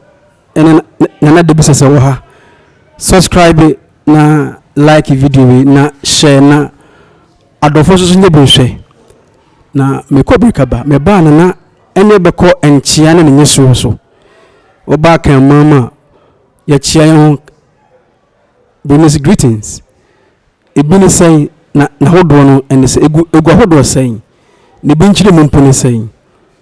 [SPEAKER 2] ɛne nana dabi sɛ sɛ wɔ ha subscribe Na like video yi na share na adɔfoɔ nso so nyɛ bi nhwɛ. Na mekɔ Birikaba mebaa no na ɛne bɛkɔ nkyea ne ne nyesoɔ so. Wobaa kan mmaa mu a yɛkyea yɛn ho Burmese greetings. Ebi ne sɛn na n'ahodoɔ no ɛne sɛ egu egu ahodoɔ sɛn? Ne bi nkyerɛmu mpo ne sɛn?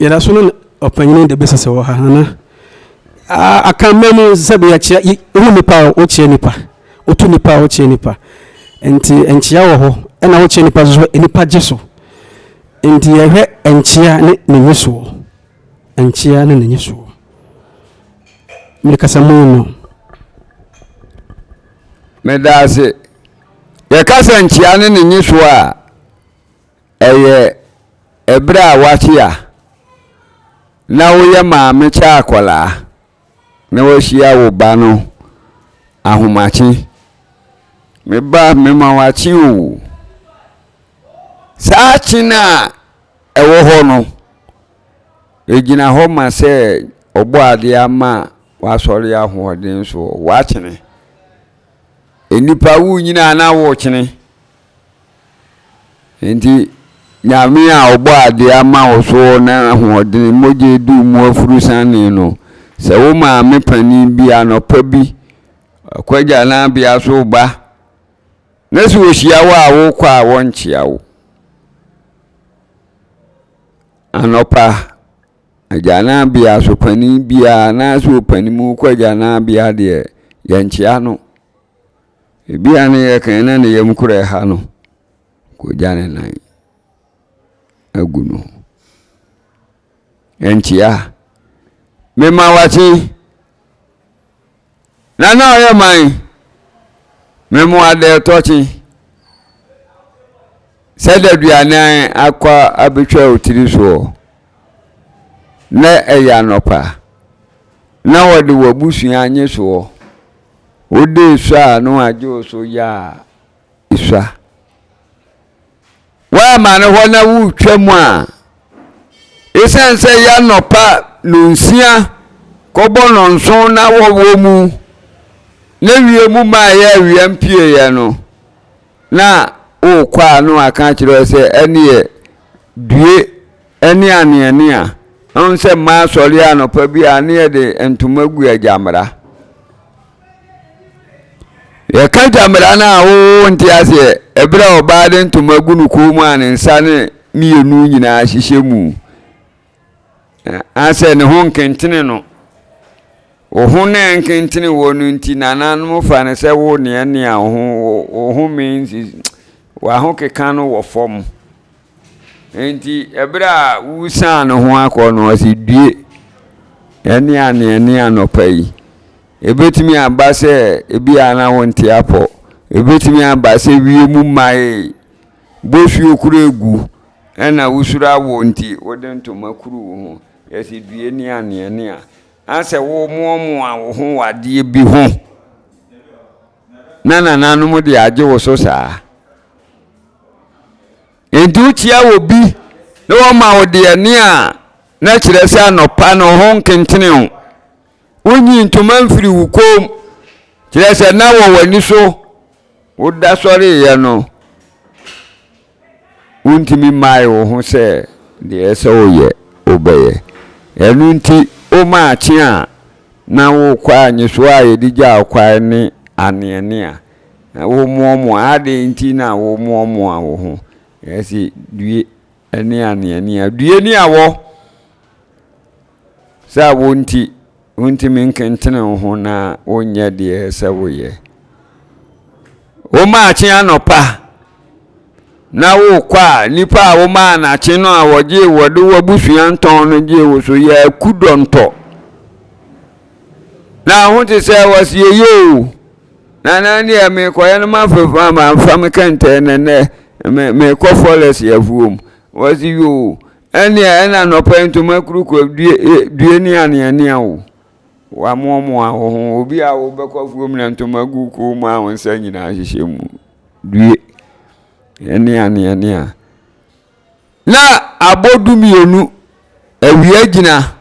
[SPEAKER 2] yɛda so no ɔpanyini de bɛsɛ sɛ wɔ ha hana aka mma mu sɛ bi yɛkyerɛ wohu nipa a wokyerɛ nipa wotu nipa a wokyerɛ nipa nti nkyea wɔ hɔ ɛna wokyerɛ nipa so nipa gye so nti yɛhwɛ nkyea ne ne nyisoɔ Nkyea ne n'ani soɔ. Me kasamu no.
[SPEAKER 1] Medaase. Yɛka sɛ nkyea ne n'ani soɔ a, ɛyɛ ɛberɛ a woakyea na woyɛ maame kyɛ akwadaa. na wahyia wo ba no ahomakye. Me ba, mema wo akye o. Saa akye no a ɛwɔ hɔ no, ɛgyina hɔ ma sɛ Ɔbɔadeɛ ama w'asɔre ahoɔden soɔ. Woakyene. Nnipa, wonyini anaa wokyene? Enti Nyame a ɔbɔɔ ade ama wo so na ahoɔdene, mogya aduru mu afuru sanee no, sɛ wo maame panin bi anɔpa bi kɔagya n'abea so ba, na sɛ ɔhyia wo a wokɔ a wɔnkyea wo. Anɔpa, agyanabea so panin biara anaasɛ ɔpanin mu kɔ agyanabea deɛ, yɛnkyea no. Ebia ne yɛ kan na ne yam kura ɛha no, kogya ne nan agu no. Ɛnkyea, mema wakye na na ɔyɛ man memo adɛ tɔkye sɛ daduane akɔ abɛtwa otiri soɔ. na ɛyɛ anɔpa, na wɔde w'abusua anye soɔ. Wode sua a na wɔagye wo so yɛ a esua. Woamma no hɔ na woretwa mu a, esiane sɛ ɛyɛ anɔpa nonsia kɔbɔ nonson na wɔwɔ mu, na wiem maa ɛyɛ awia mpueeɛ no, na worekɔ a na wɔaka akyerɛ wo sɛ ɛneɛ due ne aneanea ɛhu sɛ mmaa sɔre anɔpa bi a ne yɛde ntoma gu agyamera yɛka gyamera no a wowo nte aseɛ ɛberɛ a ɔbaa de ntoma gu no kɔn mu a ne nsa ne mmienu nyinaa hyehyɛ mu Anaasɛ ne ho nkentene no. Wo ho na ɛnkentene wɔ no nti nananom fa no sɛ wo neɛ nea wo ho wo ho means w'ahokeka no wɔ fam. Nti ɛberɛ a wosan ne ho akɔ no ɔsi due ɛne aneɛ ne anɔpa yi. Ebetumi aba sɛ ebi a na wonte apɔ. Ebetumi aba sɛ wie mu mae bosuo kura egu Ɛna wosuro awoɔ nti wode ntoma kuru wo ho, yɛsɛ due ne aneɛ ne a, asɛ wo moamoa wo ho wɔ adeɛ bi ho, na nananom de agye wo so saa. Nti wokyia wɔ bi na wɔma wo deɛ ne a, na kyerɛ sɛ anɔpa no ho nkentene wo. Wonyii ntoma mfirii wo kɔn mu, kyerɛ sɛ, na wɔ w'ani so. Woda sɔreeɛ no, wontumi mmaee wo ho sɛ deɛ ɛsɛ sɛ woyɛ, wobɛyɛ. Ɛno nti, wo maakye a na worekɔ a, nyesoɔ a yɛde gyaa wo kwan ne aneanea. Na womoamoa, adɛn nti na womoamoa wo ho? Yɛse, due ne aneanea. Due ne awɔ. Sɛ a wo nti, wontumi nkentene wo ho na wonyɛ deɛ sɛ woyɛ. Womaakye anɔpa na wokɔ a, nipa a womaa nakye no a wɔgyee wɔde w'abusua ntɔn no gyee wo so yɛ aku dɔntɔ. Na ho te sɛ wɔsi eye o. Na na deɛ mekɔyɛ no mafefa mafa me kɛntɛn nɛnɛ mekɔ fɔlɛs afuom. Wɔsi yoo Ɛnneɛ ɛna anɔpa yi ntoma kurukua due, e, due ne aneanea o. Wamoamoa wo ho. Obi a wobɛkɔ afuom na ntoma gu koo mu a wo nsa nyinaa hyehyɛ mu. Due. Ɛne aneanea. Na abɔ du mmienu, awia gyina.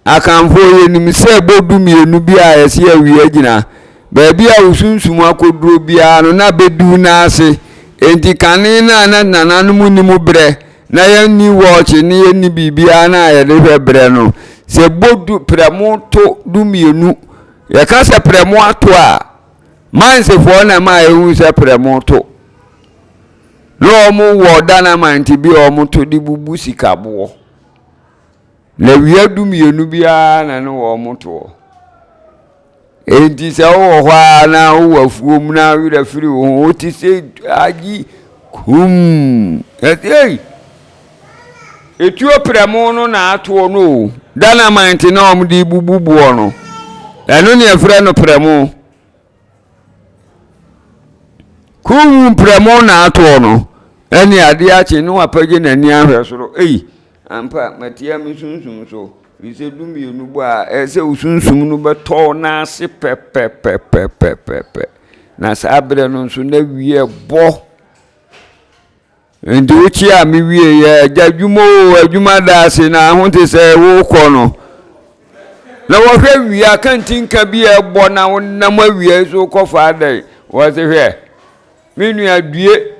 [SPEAKER 1] Akanfoɔ, yɛnim sɛ bɔ du mmienu bi a ɛse awia gyina, baabi a wosunsum akoduro biara no na bɛduru no ase. Enti kane no a na nananom nnim berɛ, na yɛnni wɔɔkye ne yɛnni biribiara no a yɛde hwɛ berɛ no, sɛ bɔ du, prɛmo to du mmienu, yɛka sɛ prɛmo ato a, Mansefoɔ na ɛma yɛhu sɛ prɛmo to. Na wɔwɔ Danamante bi a wɔto de bubu sikaboɔ. Lewia dumienu bi ara na ne wɔn toɔ. Enti sɛ wowɔ hɔ ara na wowɔ afuom na werɛ firi wo ho, wote sɛ agye kum. Ɛsei, etuo prɛmo no na atoɔ no o. Dynamite na wɔde bubu boɔ no. Ɛno ne ɛfrɛ no prɛmo. Kum prɛmo na atoɔ no. Ɛne adeɛ akye ne wapagye n'ani ahwɛ soro. Ei, Ampa, matia me sunsum so. Firi sɛ du mmienu bɔ a ɛyɛ sɛ wo sunsum no bɛtɔ n'ase pɛpɛpɛpɛpɛpɛ, na saa berɛ no nso na wie bɔ. Nti wokyia a me wie yɛ agya adwuma o, adwuma da ase na ho te sɛ wokɔ no. Na wɔhwɛ wie a kantinka bi a ɛbɔ na wonam awia yi so kɔfa adɛn? Wɔse hwɛ. Me nua, due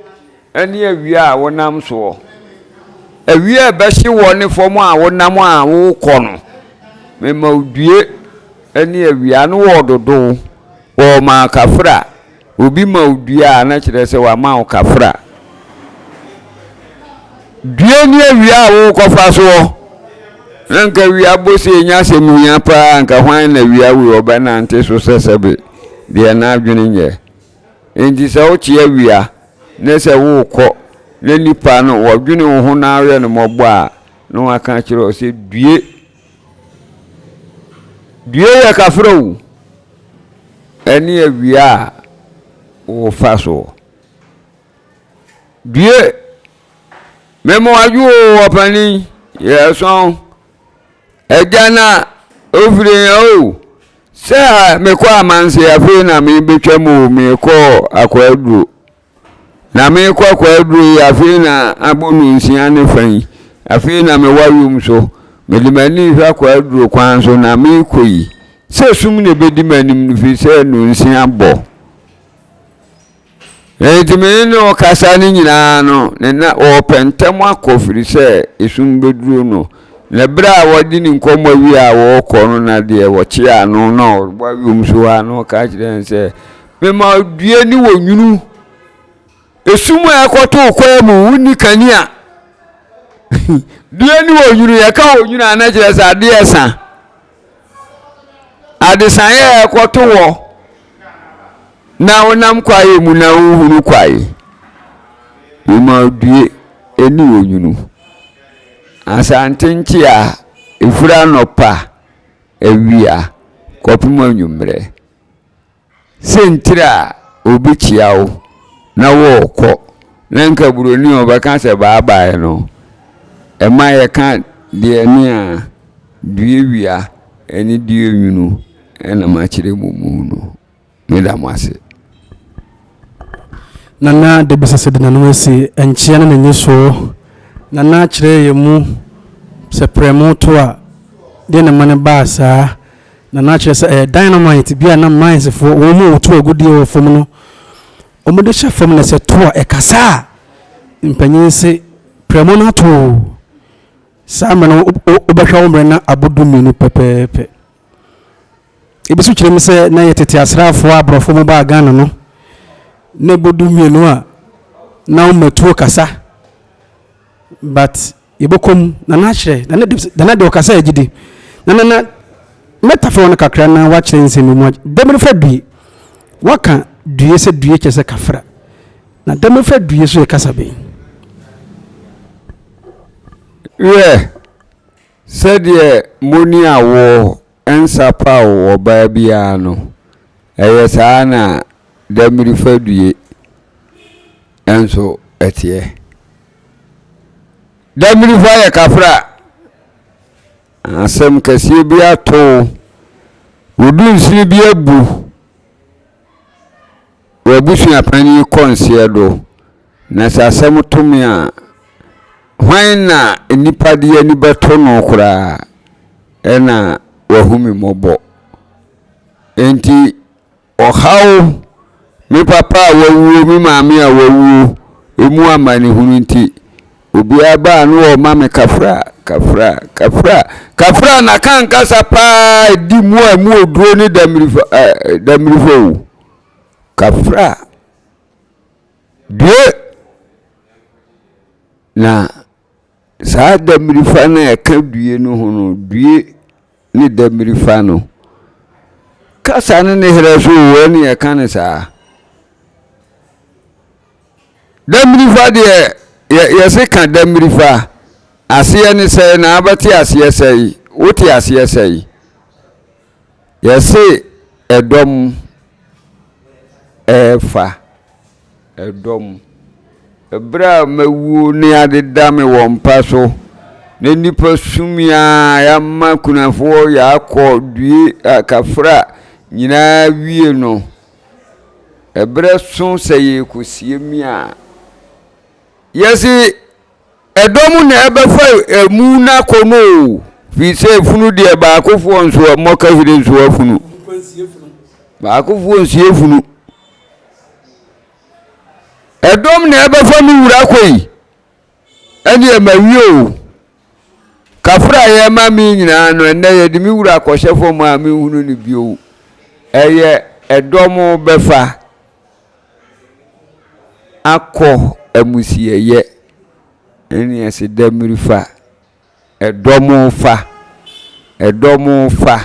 [SPEAKER 1] ne awia a wonam soɔ. Awia a ɛbɛhye woɔ ne fam a wonam a worekɔ no, mema wo due ne awia. Ano wɔɔdodo wo, wɔɔma wo kafra. Obi ma wo dua a, na kyerɛ sɛ wama wo kafra. Due ne awia a worekɔfa soɔ. Na nka awia bɔ se ɛnyɛ asɛm hia paa, nka hwan na awia wei ɔbɛnante so sɛsɛbe deɛ n'adwene nyɛ. Enti sɛ wote awia na sɛ worekɔ na nnipa no wɔdwene wo ho na woyɛ no mmɔbɔ a, na wɔaka akyerɛ wo sɛ due. Due yɛ kafra o. Ɛne awia a wofa soɔ. Due. Mema wadwo o ɔpani yɛsɔn. Agya na ofiri o. Sɛ mekɔ amanse afei na mebɛtwa mu o, mekɔɔ akwaduro. Na mekɔ akwaduro yi, afei na abɔ no nsia ne fa yi. Afei na mewɔ awom so. Mede m'ani hwɛ akwaduro kwan so na mekɔ yi. Sɛ sum na ɛbɛdi m'anim no firi sɛ nonsia bɔ. Enti me ne no rekasa no nyinaa no, ne na ɔrepɛ ntɛm akɔ firi sɛ esum bɛduru no. Na berɛ a wɔde ne nkɔmmɔ wie a wɔrekɔ no na deɛ wɔkye ano na ɔrebɔ awom so hɔ a na ɔka kyerɛ no sɛ, Mema due ne wɔ nwunu. Esum a ɛkɔto wo kwan mu, wonni kanea. due ne wɔ nwunu, yɛka wɔ nwunu a na kyerɛ sɛ adeɛ resa. Adesaeɛ a ɛkɔto hɔ na wonam kwaeɛ mu na wohunu kwae. Emaodue ɛne onwunu. Asante nkyea ɛfiri anɔpa awia kɔpem anwummerɛ. Siantsir a obi kyia wo na wɔkɔ na nka buroni a ɔbɛka sɛ bye bye no, ɛma yɛka deɛ ne a duawia ne duanwunu na makyerɛ mo mu no. Meda mo ase.
[SPEAKER 2] Nana Debisase de n'anom asi nkyea ne n'enyisoɔ. Nana kyerɛɛ yɛn mu sɛ prɛmo to a, deɛ na ɛma no baa saa. Na na kyerɛ sɛ ɛyɛ dynamite bi a na mines foɔ wɔn mu a wɔtu agudeɛ wɔ fam no wɔn de hyɛ fam na sɛ to a ɛkasa a mpanyin se prɛmo no ato o saa mmerɛ no wobɛhwɛ wo mmerɛ na abo du mmienu pɛpɛɛpɛ ebi so kyerɛ mu sɛ na yɛ tete asraafoɔ a aborɔfo mu baa Ghana no na ɛbɔ du mmienu a na wɔn matuo kasa But yɛbɛkɔ mu na na akyerɛ na na de na na de ɔkasa yɛ gyidi na na na mɛtafɛ wɔn kakra na wakyerɛ nsɛm bi mu dɛmɛrɛfɛ due waka due sɛ due kyɛ sɛ kafra na dɛmɛrɛfɛ due so yɛ kasa bi. Hwɛ
[SPEAKER 1] sɛdeɛ moni awoɔ Nsa paw ɔbaa biara no, ɛyɛ saa na Dammiri Fadue nso teɛ. Dammiri fo ayɛ kafra. Asɛm kɛseɛ bi ato wo. Wo dunsini bi abu. W'abusuapɛn yi kɔ nseɛ do, na sɛ asɛm to me a, hwan na nnipa de ani bɛto no koraa na wahu me mmɔbɔ? Enti ɔhaw, me papa a wawuo, me maame a wawuo, emu amanehunu nti, obiara ba a na ɔma me kafra, kafra, kafra, kafra, na ka ankasa paa a ɛdi mu a ɛmu oduro ne damirifa, damirifa o. Kafra deɛ na saa damirifa no a ɛka due no ho no due ne damirifa no kasa no ne herɛ so wɔ ne yɛka no saa damirifa deɛ yɛse ka damirifa aseɛ ne sɛe na abɛte aseɛ sɛe wote aseɛ sɛe Yɛse ɛdɔm ɛɛfa ɛdɔm. Ɛberɛ a mawuo ne adeda me wɔ mpa so, na nnipa sumi aa yɛama kunafoɔ yɛakɔ due a kafra nyinaa wie no, ɛberɛ so sɛ yɛrekɔsie me a, yɛse. Ɛdɔm na ɛbɛfa emu no akɔ mu o, firi sɛ efunu deɛ baakofoɔ nso mmɔ kahire nso afunu. Baakofoɔ nsie funu. Ɛdɔm na ɛbɛfa me wura kɔ yi, ɛne ɛma wie o. Kafra a yɛma me nyinaa no, ɛnɛ yɛde me wura kɔhyɛ fam a menhunu no bio. Ɛyɛ ɛdɔm bɛfa. akɔ amusieyɛ ɛne ɛsedamiri fa ɛdɔm fa ɛdɔm fa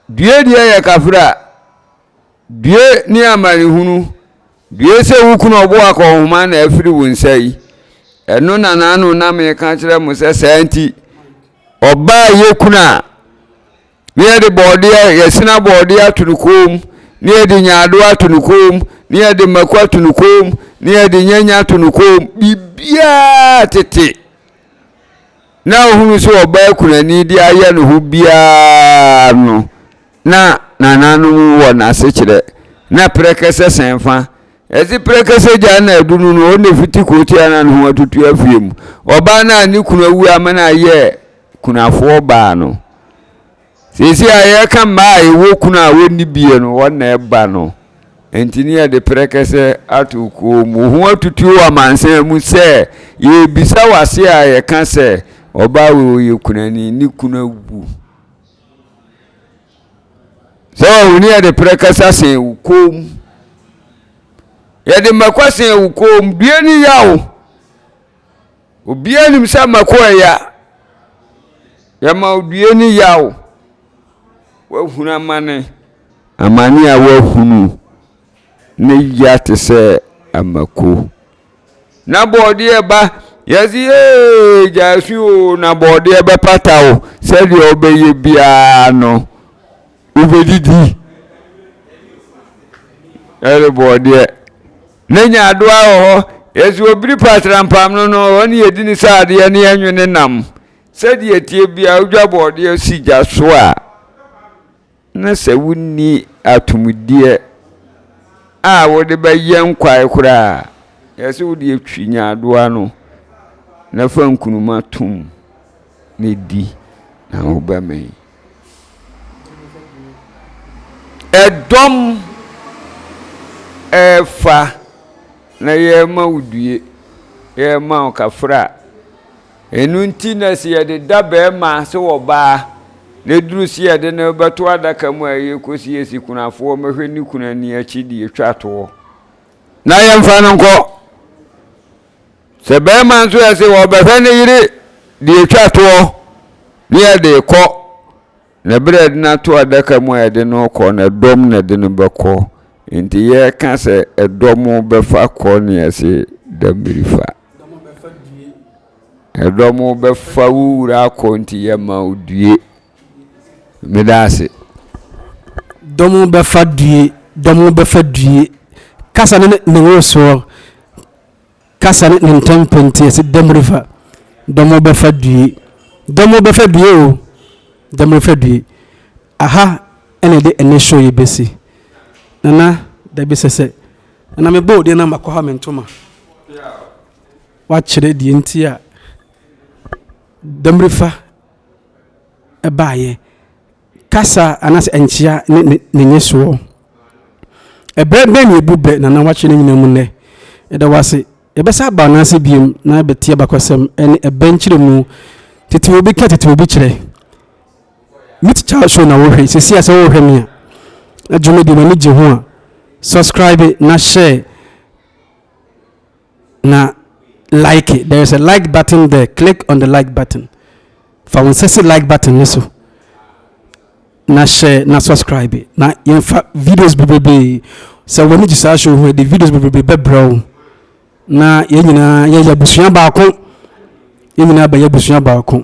[SPEAKER 1] due deɛ yɛ kafra due ne amanehunu due sɛ wo kunu ɔbo akɔnhoma na afiri wo nsa yi ɛno na n'ano na meka kyerɛ mo sɛ saa nti ɔbaa yɛ kunu a na yɛde bɔɔdeɛ yɛsene abɔɔdeɛ ato no kɔn mu na yɛde nyaadoɔ ato no kɔn mu na yɛde mako ato no kɔn mu na yɛde nyanya ato no kɔn mu biribiara tete na ohunu sɛ ɔbaa kunani de ayɛ ne ho biara no na nananom wɔ n'asekyerɛ na prɛkɛsɛ sɛn fa ɛdze prɛkɛsɛ gya na adunu no ɔna fiti kɔɔtia na ne ho atutu afie mu ɔbaa no a ne kunu awu ama no ayɛ kunafoɔ baa no. Seesei a yɛreka mmaa a ɛwɔ kunu a wɔnni bie no, wɔn na ɛba no. Enti ne yɛde prɛkɛsɛ ato kuo mu. Ho atutuo wɔ amansan mu sɛ yɛrebisa wɔ ase a yɛka sɛ ɔbaa wei ɔyɛ kunani, ne kunu awu. Sɛ ɔhu ne yɛde prɛkɛsa sɛn wo kɔn mu. Yɛde mmɛkwa sɛn wo kɔn mu, due ne yaw. Obiara nim sɛ mako yɛ ya. Yɛma odua ani yaw. Woahunu amane. Amane a woahunu ne ya te sɛ amako. Na bɔɔdeɛ ba yɛsi ee gyasu o na bɔɔdeɛ bɛpata o sɛdeɛ ɔbɛyɛ biara no. Wobedidi ɛne bɔɔdeɛ ne nyaadoa wɔ hɔ. Yɛsi wɔ biri pa asrampam no no hɔ ne yɛdi ne sradeɛ ne yɛnwe ne nam. Sɛdeɛ ɛteɛ biara wodwa bɔɔdeɛ si gya so a, na sɛ wonni atomdeɛ a wode bɛyɛ nkwae koraa a, yɛsi wode atwi nyaadoa no na fa nkunuma tom na di na wobɛmee. Ɛdɔm ɛɛfa na yɛrema wo due, yɛrema wo kafra. Ɛno nti na sɛ yɛde da bɛrima sɛ ɔbaa na ɛduru sɛ yɛde no bɛto adaka mu a yɛkɔsiesie kunafoɔ mɛhwɛ ne kunu ani akyi deɛ ɛtwa toɔ na yɛmfa no nkɔ. Sɛ barima nso yɛ se ɔrebɛhwɛ ne yere de atwa toɔ ne yɛde rekɔ, na ɛberɛ a yɛde no ato adaka mu a yɛde no rekɔ no, ɛdɔm na ɛde no bɛkɔ. Enti yɛreka sɛ ɛdɔm bɛfa kɔ ne yɛse dabiri fa. Ɛdɔm bɛfa wo wura akɔ nti yɛma wo due. Meda ase.
[SPEAKER 2] Dɔm bɛfa due, dɔm bɛfa due. Kasa ne ne nwosoɔ. kasa ne ntɛmpɛ nti ɛsɛ dɛm refa dɛm ɔbɛfa due dɛm ɔbɛfa due o dɛm refa due aha ɛna ɛde ɛnɛ show yi bɛsi nana dabi sɛsɛ nana mebɔ odeɛ na makɔ ha me ntoma wakyerɛ deɛ nti a dɛm refa ɛbaayɛ Kasa anaasɛ nkyea ne ne nnyesoɔ. Ɛberɛ bɛn na yɛbu bɛ Nana Wakye no nyinaa mu nnɛ? Yɛda wo ase. Yɛbɛsan aba wo nan ase bio na yɛabɛtie abakɔsɛm ne ɛbɛ nkyerɛmu. Tete obi ka tete obi kyerɛ. Meet Charles show na wohwɛ yi. Seesei a sɛ worehwɛ me a, na dwumadie no w'ani gye ho a, subscribe na share. na like there is a like button there click on the like button fa wɔn nsa si like button no so na hyɛ na subscribe na yɛnfa videos bebrebe sɛ wɔn ani gye saa show ho de videos bebrebe bɛbrɛ wo na yɛn nyinaa yɛyɛ abusua baako yɛn nyinaa bɛyɛ abusua baako.